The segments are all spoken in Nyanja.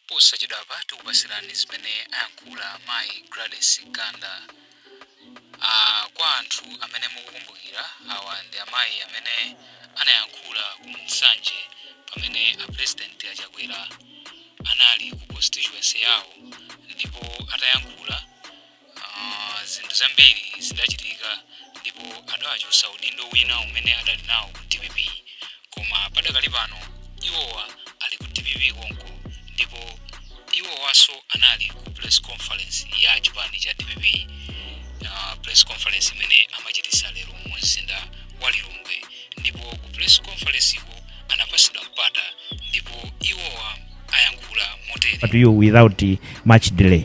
Posachedwapa tikupatsirani zimene ayankhula mayi Gladys Ganda. Aaa kwa anthu amene mukukumbukira awa ndi amayi amene anayankhula ku Nsanje pamene a Pulezidenti a Chakwera anali ku constituency yawo ndipo atayankhula, Ah, zinthu zambiri zidachitika ndipo adawachotsa udindo wina umene adali nawo ku dpp koma padakali pano iwowa ali ku dpp konko ndipo iwowanso anali ku press conference ya chipani cha dpp uh, press conference imene amachititsa lero mu mzinda wa lilongwe ndipo ku press conference-ko anapatsidwa mpata ndipo iwowa ayankhula motere but without uh, much delay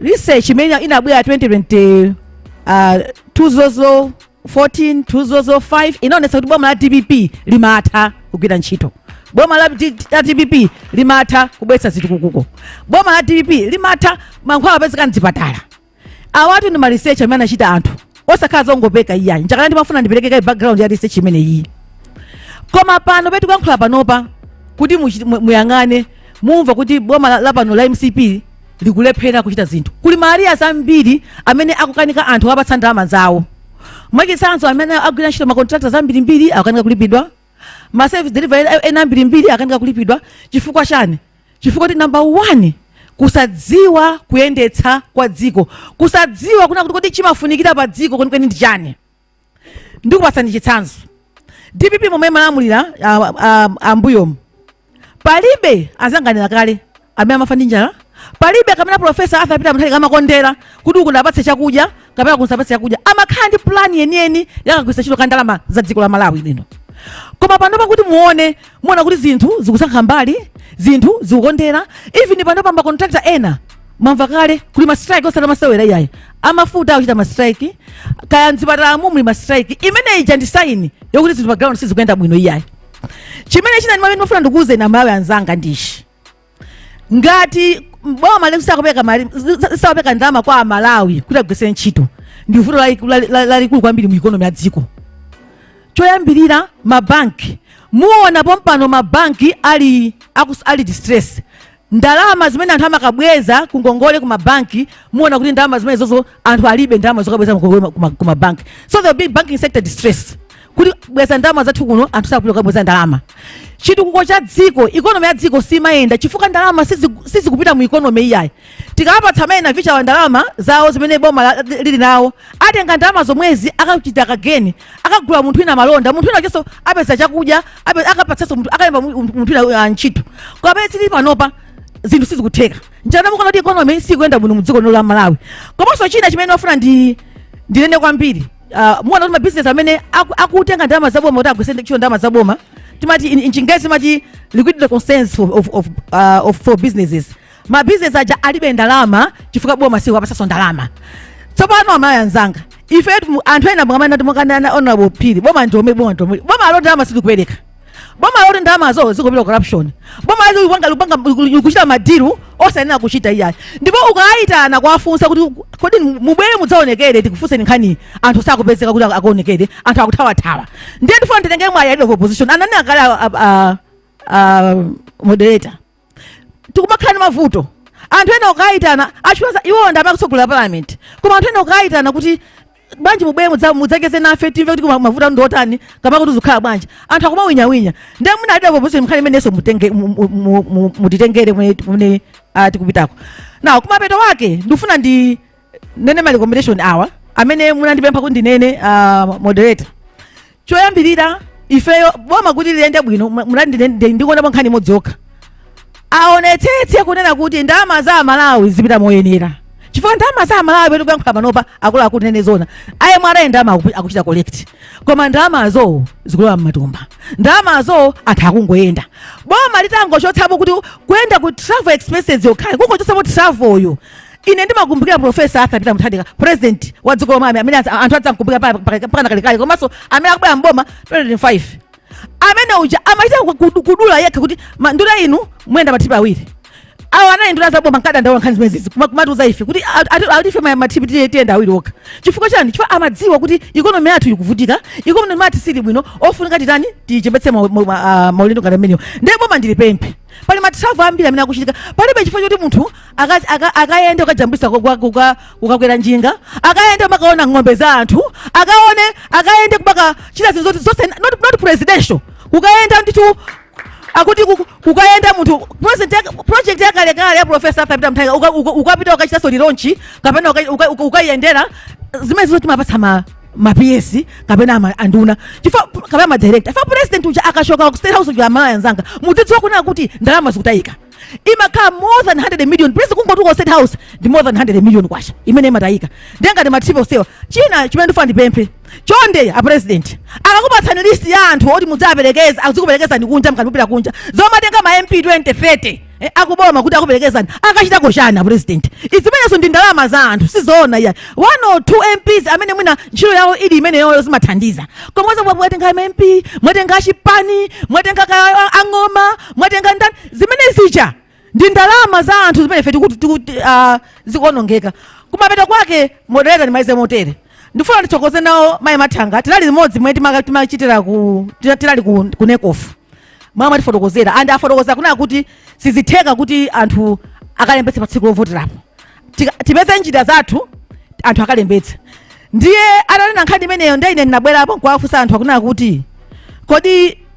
research imene inabwera 2020 uh, 2014 2015 inaonetsa kuti boma la dpp limatha kugwira ntchito boma la, D- la dpp limatha kubweretsa zitukuko boma la dpp limatha mankhwala apezeka mzipatala awatu ndi ma research amene anachita anthu osakhala zongopeka iyayi nchakena ndimafuna ndipereke kaye background ya research imene iyi koma panopa tikuyankhula panopa kuti muchi- mu- muyang'ane mumva kuti boma la- lapano la mcp likulephera kuchita zinthu kuli ma arrears ambiri amene akukanika anthu kuwapatsa ndalama zawo mwachitsanzo amene agwira ntchito makontrakitazi ambirimbiri akukanika kulipidwa maservice delivery ena ambirimbiri akukanika kulipidwa chifukwa chani Chifukwa choti number one kusadziwa kuyendetsa kwa dziko, kusadziwa kunena kuti kodi chimafunikira pa dziko kwenikweni ndi chani. Ndikupatsani chitsanzo, dpp momwe imalamulira ah, ah, ambuyomu palibe anzanga anena kale amene amafa ndi njala, palibe kumene profesa arthur peter mutharika amakondera kuti uku ndiwapatse chakudya kapena ku ndisawapatse chakudya amakhala ndi plan yeniyeni ya kagwiritsidwe ntchito ka ndalama za dziko la malawi lino koma panopa kuti muone muona kuti zinthu zikusankha mbali zinthu zikukondera even panopa makontrakta ena mwamva kale kuli mastrike osati amasewera iyayi amafuta akuchita mastrike kaya mzipatalamu muli mastrike imene ija ndi saini yokuti zinthu pa ground sizikuyenda bwino iyayi chimene china ndimafuna ndikuwuzeni amalawi anzanga ndi ichi ngati boma likusakupeleka ma- lisakupeleka ndalama kwa amalawi kuti agwiritsire ntchito ndi vuto laliku- lali- lali- lalikulu kwambiri mu ikonomi ya dziko choyambirira mabanki muona pompano mabanki ali akus, ali distress ndalama zimene anthu amakabweza ku ngongole ku mabanki muona kuti ndalama zimenezozo anthu alibe ndalama zokabweza ku ngongole ku ma- ku mabanki so there will be banking sector distress kutibweza ndalama zathu kuno anthu sakupita kukabweza ndalama chitukuko cha dziko ikonomi ya dziko simayenda chifukwa ndalama sizi- sizikupita mu ikonomi iyayi tikawapatsa amene avichawa ndalama zawo zimene boma la- lili nawo atenga ndalama zomwezi akachita kageni akagula munthu wina malonda munthu wina wakenso apeza chakudya ape- akapatsanso munthu- akalemba mu- munthu wina uh, ntchito koma pamene tili panopa zinthu sizikutheka njana mukuona kuti ikonomi sikuyenda bwino mu dziko lino la malawi komanso china chimene ndifuna ndi ndinene kwambiri uh, muona kuti mabizinesi amene aku- akutenga ndalama zaboma kuti agwiritse ntchito ndalama zaboma timati in, in chingerezi timati liquidity concerns of, of, of, uh, of, for businesses mabizinesi aja alibe ndalama chifukwa boma sikuwapatsanso ndalama tsopano amayi anzanga ifetu anthu ena mukamana timukanana honorable phiri boma ndiome boma ndiome boma loti ndalama silikupereka boma loti ndalamazo zikupita corruption boma loti likupanga likupanga likuchita madiru osayenera kuchita iyayi ndipo ukayitana kuwafunsa kuti kodi mubwere mudzaonekere tikufunseni nkhani anthu sakupezeka kuti akaonekere anthu akuthawathawa ndiye ndifuna nditengere mwayi a leader of opposition anani akale a- a- a- a moderator tikumakhala ndi mavuto anthu ena ukayitana achiwaza iwo ndi amene akutsogolera parliament koma anthu ena ukayitana kuti bwanji mubwere mudza- mudzacheze nafe timve kuti kuma- mavuto anu ndi otani kapena kuti zikukhala bwanji anthu akumawinyawinya ndiye mwina a leader of opposition nkhani imeneyonso mutenge- mu- mu- mu- mu- mutitengere kumene- kumene ah, tikupitako now kumapeto kwake ndikufuna ndi nene ma recommendation awa amene munandipempha kuti ndinene uh, moderator choyambirira ifeyo boma kuti liyende bwino mu- munati ndine- ndi- ndikuonapo nkhani imodzi yokha aonetsetse kunena kuti ndalama za amalawi zikupita moyenera chifukwa ndalama za amalawi pamene tikuyankhula panopa akuluakulu ndinene zoona a mra ndalama akupi- akuchita collect koma ndalamazo zikulowa mmatumba ndalamazo anthu akungoyenda boma litangochotsapo kuti kuyenda ku travel expenses yokhayo kungochotsapo travelyo ine ndimakumbukira profesa arthur peter mutharika president wa dziko lomwe amene adza- anthu adzamkumbukira pa- pa- pa- mpakana kalekale komanso amene akubwera mboma 2025 amene uja amachita ku- ku- kudula yekha kuti ma- nduna inu muyenda matrip awiri awo anali nduna zaboma ankadandaula nkhani zimenezi kuma- kumatiuza ife kuti a- ati- ati ife ma- matrip tiye- tiyenda awiri okha chifukwa chani chifukwa amadziwa kuti ikonomi yathu ikuvutika ikonomi yathu siili bwino ofunika titani tichepetse ma- ma- ma- ah, maulendo ngati amenewo ndiye boma ndilipemphe pali ma travel ambiri amene akuchitika palibe chifukwa choti munthu aka- aka- akayende kukajambulitsa kukakwera njinga akayende kumakaona ng'ombe za anthu akaone akayende kumakachita zinthu zoti zonse not, not presidential kukayenda ndithu akuti kuku- kukayenda munthu project ya- project yakalekale ya profesa arthur peter mutharika uka- uka- ukapita ukachitanso relaunch kapena uka- uka- uka- ukayendera zimenezo timapatsa ma ma PS kapena anduna chifukwa pu- kapena ma director chifukwa president uja akashoka ku state house uja aMalawi anzanga mudzidziwa kunena kuti ndalama zikutayika imakhala more than 100 million president kungotuluka state house ndi more than 100 million kwacha imene imatayika ndiye ngati mmati posewa china chimene ndifuna ndipemphe chonde a president akakupatsani list ya anthu oti mudzaperekeza azikuperekezani kunja mukamapita kunja zomatenga ma mp 2030 Eh, akuboma kuti akuperekezani akachitako chani a president zimenezo ndi ndalama za anthu sizoona iyayi one or two mps amene mwina ntchito yawo ili imeneyoyo zimathandiza komanso bwa- mwatenga ma mp mwatenga achipani mwatenga ka- a- ang'oma mwatenga ndani zimene zija ndi ndalama za anthu zimene ife tikuti- tikuti, ah, zikuonongeka kumapeto kwake moderator ndimalize motere ndifuna ndithokoze nawo mayi mathanga tinali limodzi mmene timaka- timachitira ku tina- tinali ku, ku nekofu mwa mwatifotokozera and afotokoza kunena kuti sizitheka kuti anthu akalembetse pa tsiku lovoterapo tipeze njira zathu anthu akalembetse ndiye atanena nkhani imeneyo ndiye ine ndinabwerapo nkuwafunsa anthu akunena kuti kodi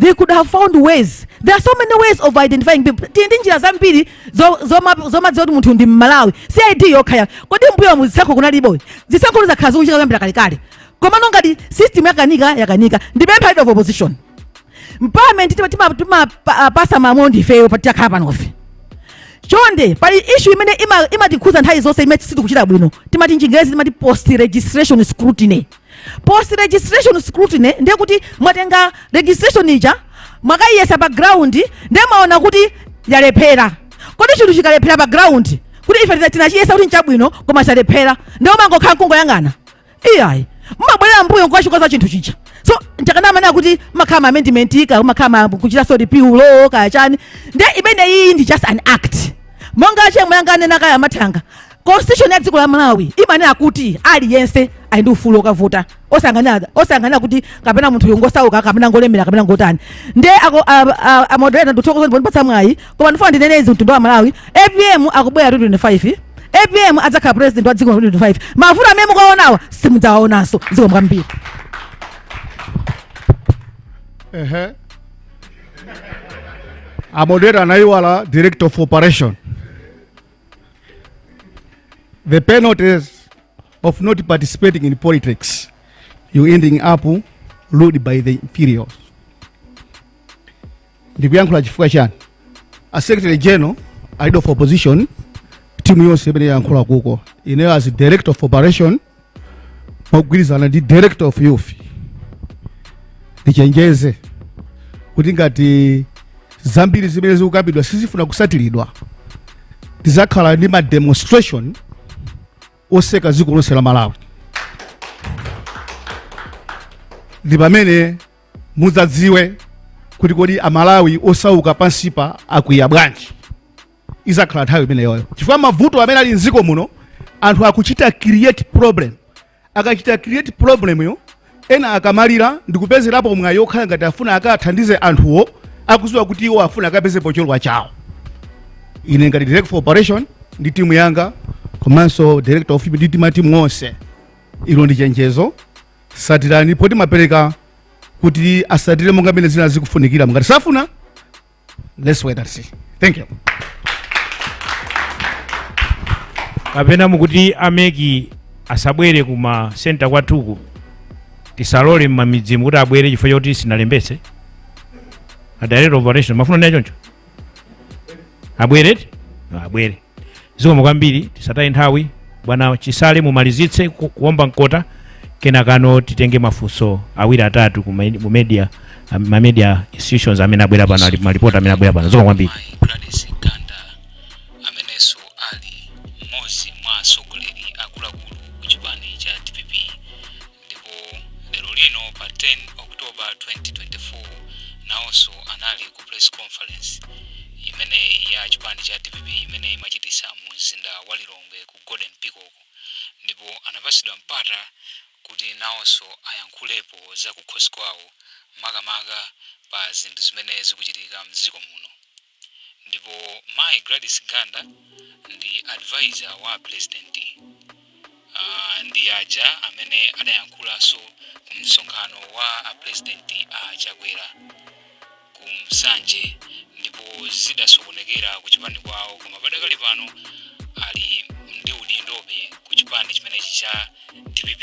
they could have found ways there are so many ways of identifying people tili ndi njira zambiri zo- zoma- zomadziwa kuti munthu ndi mmalawi si id yokha ayi kodi mbuyomu zisankho kunalibo zisankho zakhala zikuchitika kuyambira kalekale komano ngati system yakanika yakanika ndipempha leader of opposition mu parliament timapasa malamulo ndifeyo takhala panofe chonde pali issue imene ima- imatikhuza nthawi zonse imene sitikuchita bwino timati chingerezi timati post registration scrutiny Post registration scrutiny ndiye kuti mwatenga registration ija mwakayiyesa pa ground ndiye mwaona kuti yalephera. Kodi chinthu chikalephera pa ground kuti ife tinachiyesa kuti nchabwino koma chalephera ndiye mumangokhala nkungoyang'ana iyayi mumabwerera mbuyo nkukachikonza chinthu chija so nchifukwa amanena kuti mmakhala ma amendment kaya mmakhala ma kuchita so repeal law kaya chani ndiye imeneyi ndi just an act monga achemwe anganene kaya amathanga Constitution ya dziko la Malawi imanena kuti aliyense ali ndi ufulu wokavota osaganizira osaganizira kuti kapena munthuyo ngosauka kapena ngolemera kapena ngotani nde ako amoderator ndithokoza pondipatsa mwayi koma ndifuna ndinene izi mtundu wa Malawi APM akubwera 2025 APM adzakhala president wa dziko la 2025 mavuto amene mukuwaonawa simudzawaonanso zikomo kwambiri Ehe. A moderator anaiwala director of operation. the penalties of not participating in politics, you ending up ruled by the inferiors. ndikuyankhula chifukwa chani a secretary general leader of opposition timu yonse imene yayankhula kuko ineyo as director of operation mogwirizana ndi director of youth ndichenjeze kuti ngati zambiri zimene zikukambidwa sizifuna kusatiridwa tizakhala ndi ma demonstration oseka dziko lonse la malawi ndi pamene mudzadziwe kuti kodi amalawi osauka pansipa akwiya bwanji izakhala nthawi imeneyoyo chifukwa mavuto amene ali mdziko muno anthu akuchita create problem akachita create problem yo ena akamalira ndikupezerapo mwayi okhala ngati afuna akathandize anthuwo akuziwa kuti iwo afuna akapezepo cholowa chawo ine ngati director of operation ndi timu yanga komanso director of ndi timatimu onse ilo ndi chenjezo satirani report timapereka kuti asatire monga mene zina zikufunikira ngati safuna let's wait and see thank you kapena mukuti a MEC asabwere ku ma center kwathuko tisalole mmamidzimu kuti abwere chifukwa choti sinalembetse a director of operation mafuna ndi achoncho abwere ti? No, abwere zikomo kwambiri tisataye nthawi bwana chisale mumalizitse ku- kuomba mkota kenakano titenge mafunso awiri atatu ku med- ku media am- ma media institutions amene abwera pano ali- ma reporter amene abwera pano zikomo kwambiri mayi gladys ganda amenenso ali mmodzi mwa atsogoleri akuluakulu ku chipani cha dpp Ndipo lero lino pa 10 October 2024 nawonso anali ku press conference imene ya chipani cha dpp imene imachititsa mu mzinda wa Lilongwe ku Golden Peacock ndipo anapatsidwa mpata kuti nawonso ayankhulepo zakukhosi kwawo makamaka pa zinthu zimene zikuchitika mdziko muno. ndipo mayi Gladys Ganda ndi advisor wa a president uh, ndi aja amene adayankhulanso ku msonkhano wa a president a Chakwera ku Nsanje ndipo zidasokonekera ku chipani kwawo koma padakali pano ali ndi udindobe ku chipani chimenechi cha DPP